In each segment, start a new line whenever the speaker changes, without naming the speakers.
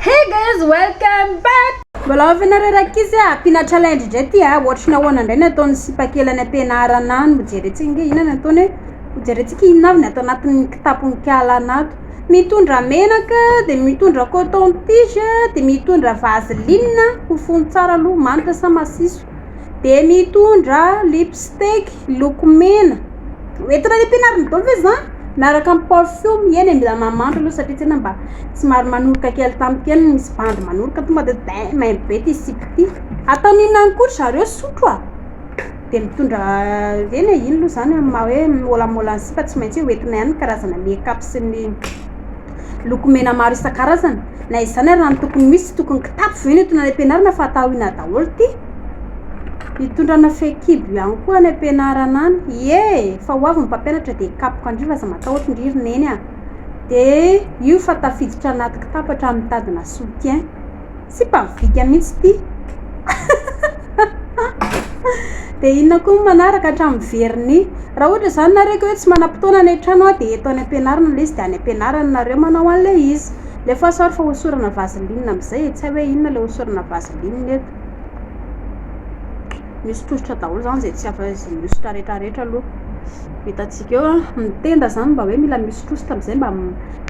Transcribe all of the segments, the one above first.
Hey guys welcome back. Mbola off ianareo ry ankizy a, ampiana challenge indray ity a, ohatry ny ahoana indray ny ataon'ny sipa kely any am-pianarana any, hojerentsika ange inona ny ataony hoe, hojerentsika inona avy ny ato anatin'ny kitapon-kala anato, mitondra menaka dia mitondra coton tige dia mitondra vaseline hofono tsara aloha manitra sa masiso dia mitondra lipstick loko mena. Mety raha ny ampianarin'i Doly ve zany? Miaraka amin'ny parfum eny e, mila mamantra aloha satria tena mba somary manoroka kely tampoka eny, misy bandy manoroka tonga dia daim aim be ity sipa ity. Ataony inona ihany koa ry zareo sotro a! Dia mitondra ireny e, iny aloha zany amin'ny maha hoe môlamôla ny sipa tsy maintsy hoe ho entina ihany ny karazana make up sy ny lokomena maro isan-karazany. Na izany ary raha ny tokony ho izy tsy tokony kitapo ve no entina any am-pianarana fa atao inona daholo ity? Hitondrana fehikibo ihany koa any am-pianarana any. Ie, fa ho avy ny mpampianatra dia hikapoka an-dry fa aza matahotra ndry ry neny a! Dia io fa tafiditra anaty kitapo hatramin'ny mitadina soutien. Sipa mivika mihitsy ity. Dia inona koa ny manaraka hatramin'ny vernis. Raha ohatra izany nareo ka hoe tsy manam-potoana any an-trano aho dia eto any am-pianarana ilay izy dia any am-pianarana nareo manao an'ilay izy. Alefaso ary fa hosorana vaseline amin'izay e! Tsy hay hoe inona ilay hosorana vaseline eto. misy tosotra daholo zany zay tsy afa izy misotra rehetra rehetra aloha hitantsika eo a ny tenda zany mba hoe mila misotrosotra amizay mba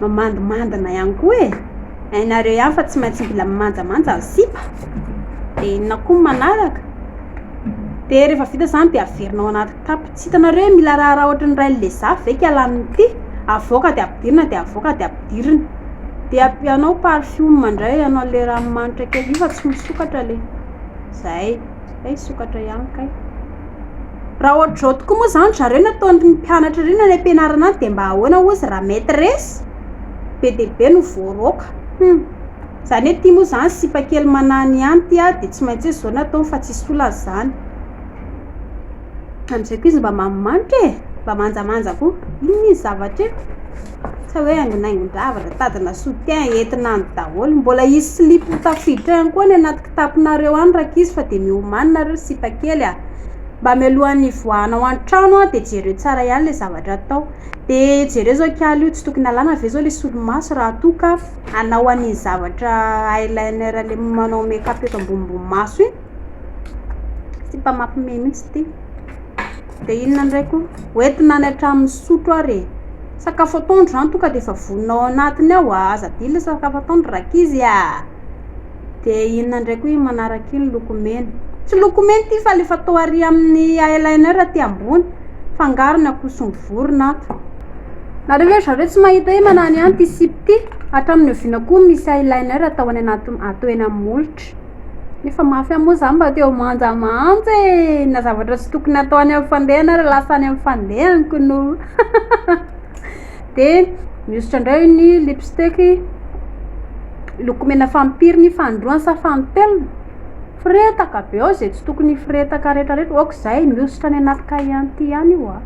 mamandimandina ihany koa e hainareo ihany fa tsy maintsy mila mimanjamanja ny sipa de inona koa ny manaraka de rehefa vita zany de averinao anaty kitapo Tsy hitanareo hoe mila raharaha ohatry ny rain'i Lezafy ve kala amin'ity? Avoaka dia ampidirina dia avoaka dia ampidirina. Dia ampianao parfum indray ianao an'ilay ranomanitra kely io fa tsy misokatra le. Zay. Kay hisokatra ihany kay. Raha ohatr'izao tokoa moa izany zareo no ataon'ny mpianatra ireny any am-pianarana any dia mba ahoana hozy raha maîtresse be dia be no voaroaka. Hum. Izany hoe ity moa izany sipa kely manany ihany ity ary dia tsy maintsy hoe izao no ataony fa tsisy olana izany. Amin'izay koa izy mba manimanika e! Mba manjamanja koa. Inona izy zavatra io? Sa hoe haingonaingon-javatra, tadina soutien, entina any daholo. Mbola hisy slip ho tafiditra eo ihany koa any anaty kitapinareo any rankizy fa dia miomany nareo sipa kely a! Mba mialohan'ny hivoahanao an-trano a, dia jereo tsara ihany ilay zavatra atao. Dia jereo izao kiala io, tsy tokony alàna ve izao ilay solomaso raha toa ka hanao an'iny zavatra eyeliner le manao make up eto ambonimbony maso iny? Sipa mampime mihitsy ity. Dia inona indray koa? Hoentina any an-trano misotro ary e. Sakafo atoandro izany toa ka dia efa vonona ao anatiny ao a. Aza adino sakafo atoandro rankizy a. Dia inona indray koa iny manaraka iny? Lokomena. Tsy lokomena ity fa ilay fatao ary amin'ny eyeliner aty ambony. Fangaro ny akoho sy ny vorona ato. Nareo ve ry zareo tsy mahita hoe manana ihany ity sipa ity? Hatramin'ny oviana koa no misy eyeliner atao any anaty atao eny amin'ny molotra? Efa mafy aho moa zany mba teo manja manja e! Na zavatra tsy tokony atao any amin'ny fandehana ary lasa any amin'ny fandehaniko no de mihosotra indray ny lipstick lokomena fanipiry ny fanindroany sa fanintelony, firetaka be ao zay tsy tokony hifiretaka retraretra ok zay mihosotra any anaty cahier ihany io an!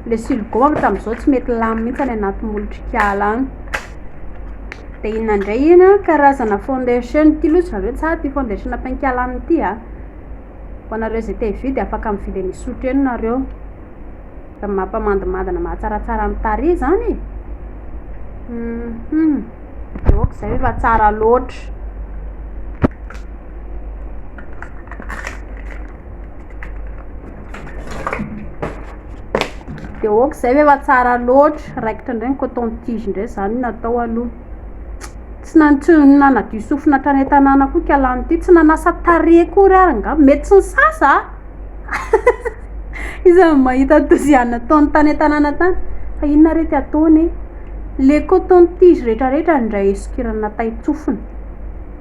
le siligao avy hatramin'izao tsy mety lany mihintsy any anaty molotrik'ala any. Dia inona indray iny an, karazana foundation ity aloha tsy zareo tsara ity foundation pink-alana ity an! Ho anareo izay te hividy afaka mividy eny Isotry eny nareo. Dia mampamandimandina mahatsaratsara ny tarehy izany e! Hum! Dia ok izay efa tsara loatra. de ok zay ve efa tsara loatra raikitra indray ny coton tige indray zany natao aloha tsy na- tsy nanadio sofina hatrany an-tanàna koa ika lany ty tsy nanasa tarehy akory ary nga mety tsy nisasa a iza no mahita ny dosiana ataony tany an-tanàna tany fa inona ary ity ataony e le coton tige retraretra ndray sokirana tay-tsofina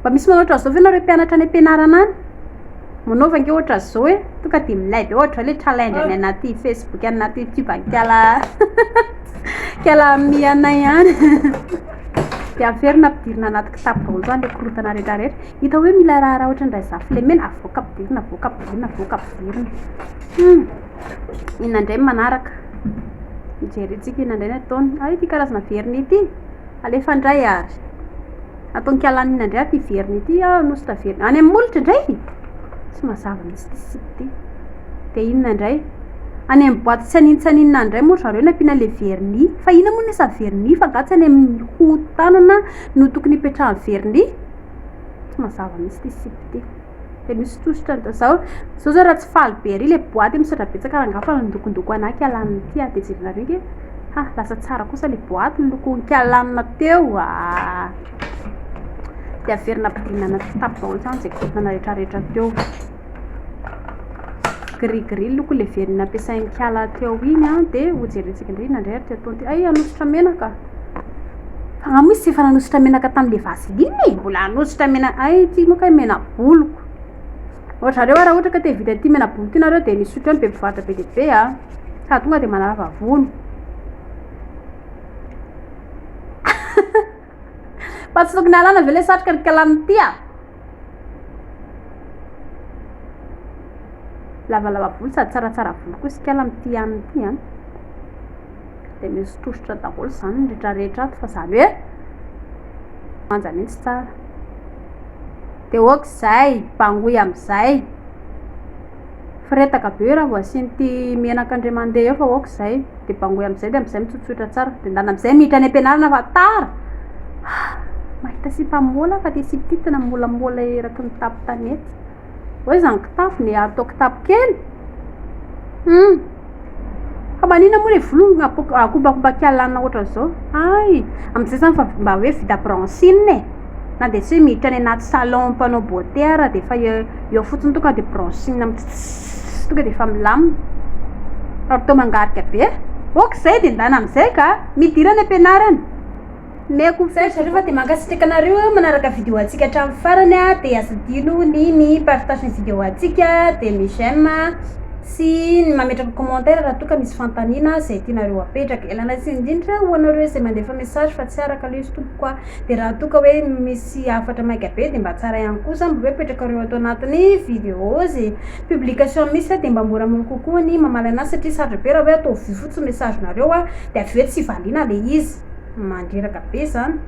Mba misy manao ohatran'izao ve nareo mpianatra any am-pianarana any? Manaova ange ohatran'izao hoe tonga dia milay be ohatr'izao ilay challenge any anaty facebook any anaty youtube any kala kala mi anay any dia averina ampidirina anaty kitapo daholo izany ilay korotana rehetra rehetra hita hoe mila raharaha ohatran'indray zafilemena avoaka ampidirina avoaka ampidirina avoaka ampidirina hmm. inona indray manaraka mijerentsika inona indray ny ataony ary ity karazana verina ity alefa indray ary Ato Ankalanina indray aty Iverina ity aho Nosy Taverina. Any amin'ny molotra indray? Tsy mazava mihitsy ity site ity. Dia inona indray? Any amin'ny boaty tsy hanintsanina any indray moa ry zareo no ampiana ilay vernis. Fa inona moa ny isan'ny vernis fa angaha tsy any amin'ny hoho tanana no tokony hipetrahan'ny vernis? Tsy mazava mihitsy ity site ity. dia misy sosotra ny tazao zao zao raha tsy faly be ary le boaty misy raha betsaka raha ngafa ny dokondoko anay kialany ity a dia jerenareo nge ha lasa tsara kosa le boaty ny lokony kialanina teo a dia averina ampidinana tsy tapy daholo izany izay korontana rehetra rehetra teo gris gris ny lokony le verina ampiasain'ny kiala teo iny a dia hojerentsika indray inona indray ary teo ataony ty ay hanosotra menaka Fa mo izy tsy efa nanosotra menaka tamle vaseline e? Mbola hanosotra mena- hay ty moa kay menaboloko. Ry zareo ary raha ohatra ka te hividy an'ity menaboloko ity nareo de misotra eo ny be mpivarotra be dia be a! Sa tonga de manala vavony. Fa tsy tokony halana ve le satroka ry kalaman'ity a! Lavalava volo sady tsaratsara volo koa isikala amin'ity hanina ity an. Dia misy tosotra daholo izany ny ritra rehetra ato fa izany hoe manja mihitsy tsara. Dia ok izay, bangoy amin'izay. Firetaka be io raha vao asian'ity menaka indray mandeha eo fa ok zay de bangoy amizay de amizay mitsotsotra tsara de ndana amizay miditra any ampianarana fa tara ah! mahita sipa mola aho fa te sipa ity tena molamola eraky ny tapo tanety oe zany kitapo ne ary atao kitapo kely hum! Fa manina moa le volo no akobakobakialanao ohatran'izao? hay! Amin'izay izany efa mba hoe vita bronzing e! na dia tsy hoe miditra any anaty salon mpanao beaute ary dia efa eo eo fotsiny tonga dia bronzing mitsitsitsits tonga dia efa milamina fa atao mangarika be ok zay dia ndana amin'izay ka! midira any am-pianarana Omeko fetra rehefa dia mankasitraka anareo manaraka vidéo antsika hatramin'ny farany a dia aza adino ny mi partage ny vidéo antsika dia mi j'aime sy ny mametraka commentaire raha toa ka misy fanontaniana izay tianareo apetraka ialana tsiny indrindra ho anareo izay mandefa message fa tsy araka aloha izy tompoko a dia raha toa ka hoe misy hafatra maika be dia mba tsara ihany koa zany mba hoe apetrakareo ato anatin'ny vidéo izay publication misy a dia mba moramora kokoa ny mamaly anazy satria sarotra be raha hoe ataovy vy fotsiny message nareo a dia avy eo tsy valiana ilay izy mandreraka be zany.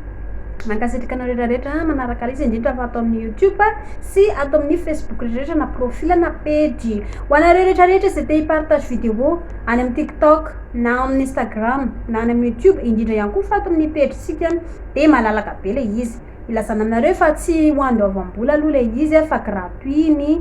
Mankasitraka anareo rehetra manaraka izy indrindra fa ato amin'ny YouTube sy ato amin'ny Facebook rehetra na profil na page. Ho anareo rehetra rehetra izay te hipartage vidéo any amin'ny TikTok na amin'ny Instagram na any amin'ny YouTube indrindra ihany koa fa ato amin'ny page sika dia malalaka be ilay izy. Ilazana aminareo fa tsy ho andoavam-bola aloha ilay izy fa gratuit ny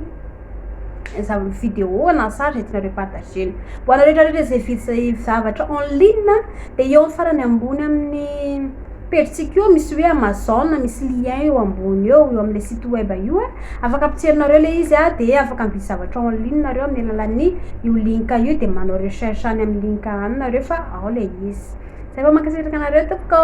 zavatra vidéo na sary zay tianareo partagena ho anareo rehetra rehetra zay vidy zay zavatra en ligne de eo amin'ny farany ambony amin'ny pejintsika io misy hoe amazon misy lien eo ambony eo eo amle site web io a afaka ampitserinareo le izy a de afaka mividy zavatra en ligne nareo amin'ny alalan'ny io link io de manao recherche any amin'ny link any nareo fa ao le izy zay vao mankasitraka anareo tompoko